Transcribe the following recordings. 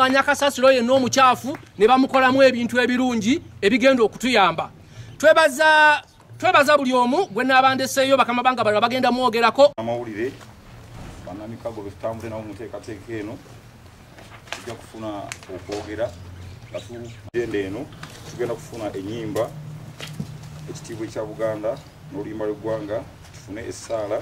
okunganya kasasiro yenna omukyafu ne bamukolamu ebintu ebirungi ebigenda okutuyamba twebaza twebaza buli omu gwe naabandeseeyo bakama banga balala bagenda mwogerako amawulire banamikago betutambule nawo muteekateeka eno tujja kufuna okwogera atugenda eno tugenda kufuna enyimba ekitiibwa ekya buganda n'oluyimba lw'eggwanga tufune essaala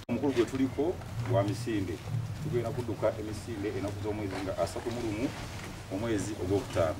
omukulu gwe tuliko gwa misinde tugenda kuduka emisinde enaku z'omwezi nga asatu mu lumu omwezi ogwokutaano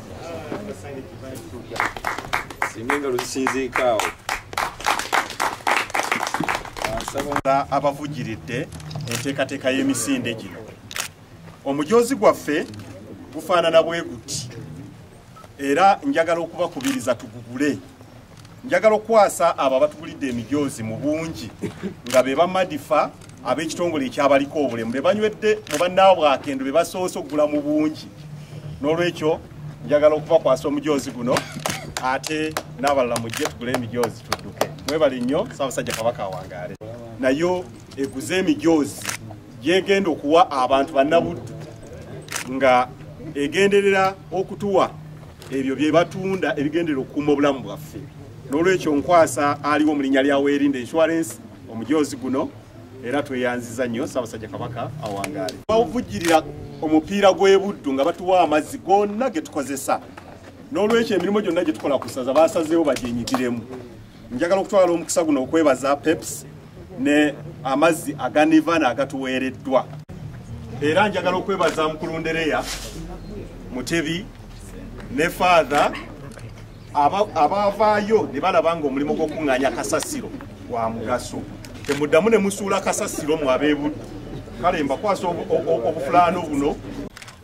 singa engalo zisinziika awo abavugiridde enteekateeka y'emisinde gino omujoozi gwaffe gufaanana bwe guti era njagala okubakubiriza tugugule njagala okukwasa abo abatugulidde emijoozi mu bungi nga be bamadifa ab'ekitongole ekyabaliko obulemu be banywedde mu bannaabwe akendo be basoose okugula mu bungi n'olwekyo njagala okubakwasa omujoozi guno ate n'abalala mujje tugule emijoozi tudduke mwebale nnyo saabasajja kabaka awangaale nayo eguze emijoozi gyegenda okuwa abantu bannabuddu nga egenderera okutuwa ebyo bye batunda ebigendera okukuuma obulamu bwaffe n'olwekyo nkwasa aliwo mu linnya lya weerinde insurance omujoozi guno era tweyanziza nnyo ssaabasajja kabaka awangaale bawuvujjirira omupiira gw'ebuddu nga batuwa amazzi gonna ge tukozesa n'olwekyo emirimu gyonna gye tukola ku ssaza basazeewo bagyenyigiremu Njagala okutwala omukisa guno okwebaza Pepsi ne amazzi aga Nirvana agatuweereddwa. Era njagala okwebaza mukulu Ndereya Mutebi ne Father abavaayo ne balaba ng'omulimu gw'okuŋŋaanya kasasiro gwa mugaso. Temuddamu ne musuula kasasiro mu abeebuddu. Kale mbakwasa obufulaano buno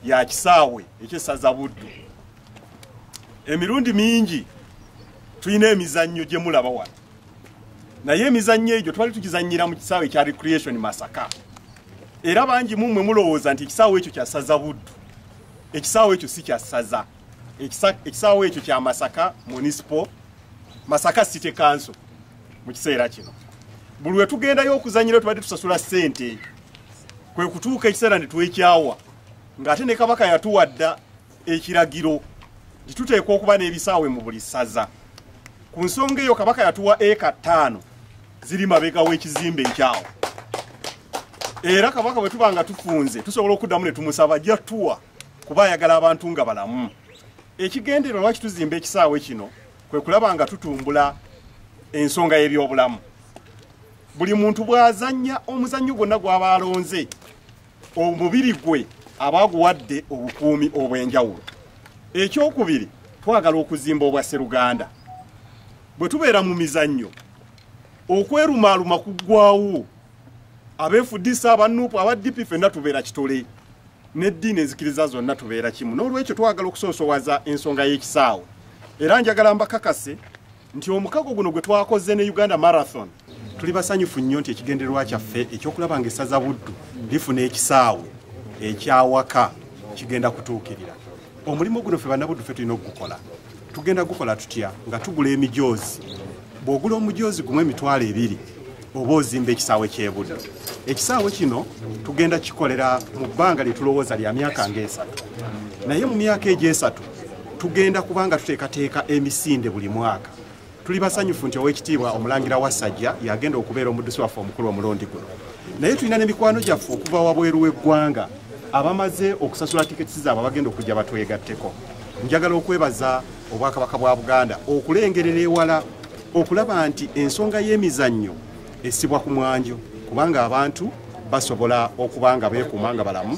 ya kisaawe eky'essaza Buddu. Emirundi mingi tulina emizannyo gye mulaba wano naye emizannyo egyo twali tukizannyira mu kisaawe ekya recreation masaka era bangi mu mmwe mulowooza nti ekisaawe ekyo kyasaza buddu ekisaawe ekyo si kyasaza ekisaawe ekyo kya masaka municipal masaka city council mu kiseera kino buli we tugendayo okuzannyira tubadde tusasula ssente kwe kutuuka ekiseera ne twekyawa ng'ate ne kabaka yatuwadda ekiragiro nti tuteekwa okuba n'ebisaawe mu buli ssaza ku nsonga eyo kabaka yatuwa eka ttaano ziri mabega w'ekizimbe ekyawo era kabaka bwe tuba nga tufunze tusobola okuddamu ne tumusaba jatuwa kuba ayagala abantu nga balamu ekigendero lwaki tuzimba ekisaawe kino kwe kulaba nga tutumbula ensonga y'ebyobulamu buli muntu bw'azannya omuzannyo gwonna gw'aba alonze omubiri gwe aba aguwadde obukuumi obw'enjawulo ekyokubiri twagala okuzimba obwa seruganda bwe tubeera mu mizannyo okwerumaaluma kuggwawo abeefudisa abanupu aba dp fenna tubeera kitole n'eddiini ezikiriza zonna tubeera kimu n'olwekyo twagala okusoosowaza ensonga y'ekisaawe era njagala mbakakase nti omukago guno gwe twakoze ne uganda marathon tuli basanyufu nnyo nti ekigendererwa kyaffe ekyokulaba nga essaza buddu lifuna ekisaawe ekyawaka kigenda kutuukirira omulimu guno ffe banabuddu ffe tulina okugukola tugenda gukola tutya nga tugula emijoozi bw'ogula omujoozi gumu emitwalo ebiri oba ozimba ekisaawe kyebudde ekisaawe kino tugenda kikolera mu bbanga lyetulowooza lya myaka ngaesatu naye mu myaka egyesatu tugenda kubanga tuteekateeka emisinde buli mwaka tuli basanyufu nti owekitiibwa omulangira wasajja yagenda okubeera omuddusi waffe omukulu omulundi guno naye tulina nemikwano gyaffe okuva wabweru w'eggwanga abamaze okusasula tiketi zaabwe abagenda okujja batwegatteko njagala okwebaza obwakabaka bwa buganda okulengerera ewala okulaba nti ensonga y'emizannyo esibwa ku mwanjo kubanga abantu basobola okuba nga beekuuma nga balamu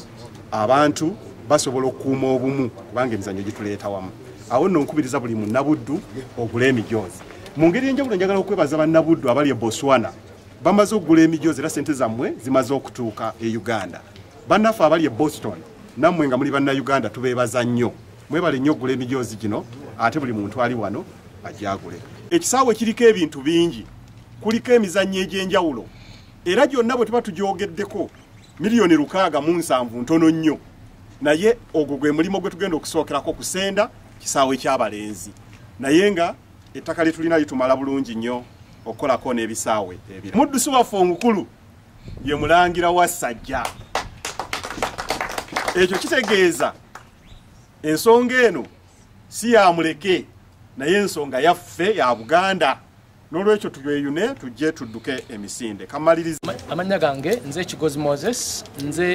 abantu basobola okukuuma obumu kubanga emizannyo gituleeta wamu awo nno nkubiriza buli munnabuddu ogula emijoozi mu ngeri enjawulo njagala okwebaza bannabuddu abali e botswana bamaze okugula emijoozi era sente zammwe zimaze okutuuka e uganda bannaffe abali e boston nammwe nga muli bannayuganda tubeebaza nnyo Mwebale nnyo okugula emijoozi gino ate buli muntu ali wano agyagule. Ekisaawe kiriko ebintu bingi, kuliko emizannyo egy'enjawulo era gyonna bwe tuba tugyogeddeko miliyoni lukaaga mu nsanvu ntono nnyo, naye ogwo gwe mulimu gwe tugenda okusookerako kusenda kisaawe ky'abalenzi naye nga ettaka lye tulina litumala bulungi nnyo okukolako n'ebisaawe ebira. Muddusi waffe omukulu ye mulangira wa Sajja. Ekyo kitegeeza ensonga eno si yamuleke naye ensonga yaffe ya buganda n'olwekyo tubeyune tujje tudduke emisinde kamaliriza amannya gange nze ekigozi moses nze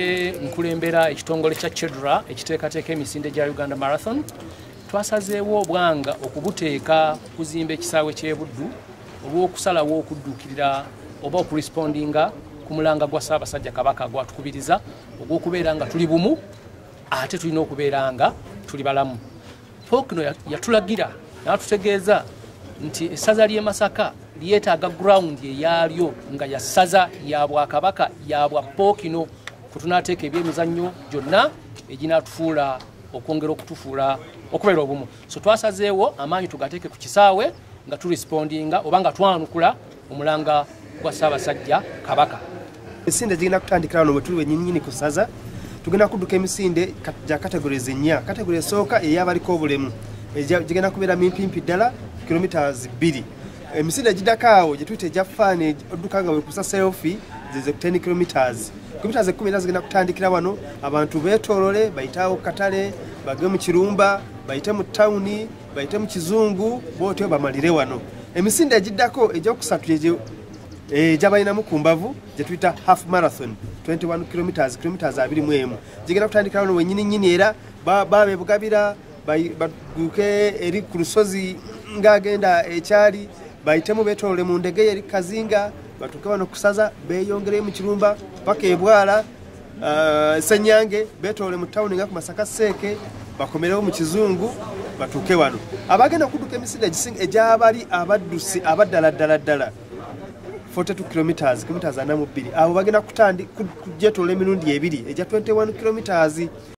nkulembera ekitongole kya chedra ekiteekateeka emisinde gya uganda marathon twasazeewo obwanga okubuteeka kuzimba ekisaawe ky'ebuddu olw'okusalawo okudduukirira oba okurespondinga ku mulanga gwa ssaabasajja kabaka gwatukubiriza ogw'okubeera nga tuli bumu ate tulina okubeera nga tuli balamu pokino yatulagira natutegeeza nti essaza ly'e masaka lyetaaga ground eyaalyo nga ya ssaza ya bwakabaka ya bwa pokino kwetunateeka ebyemizannyo gyonna eginatufuula okwongera okutufuula okubeera obumu so twasazeewo amaanyi tugateeke ku kisaawe nga turespondinga oba nga twanukula omulanga gwa ssaabasajja kabaka emisinde gigenda kutandikira wano wetuli wenyinyini ku saza tugenda kudduka emisinde gya categories ennya category esooka eyabaliko obulemu gigenda kubeera mimpimpi ddala kilometres bbiri emisinde egidako awo gyetuyita egya faani odduka nga wekusa selfi zeze 10 kilometres kilometres ekkumi era zigenda kutandikira wano abantu betolole bayiteawo katale bage mu kirumba bayite mu tawuni bayite mu kizungu bwotyo bamalire wano emisinde egiddako egyokusatu gyegyo eh, gyabalinamu ku mbavu gyetuyita half marathon 21 kilometers kilometers abiri mu emu gigenda kutandikira wano wenyini nyini era babebugabira baduke eri ku lusozi ngaagenda ekyali bayitemu betolole mu ndege yeri kazinga batuke wano kusaza beyongereyo mu kirumba paka ebwala uh, senyange betole mu town nga ku masaka seeke bakomerewo mu kizungu batuuke wano abagenda okuduka emisinde egisinga egyabali abaddusi abaddala ddala ddala 42 kilometres kilometres ana mu bbiri abo bagenda kutandi kujetoola emirundi ebiri egya 21 kilometres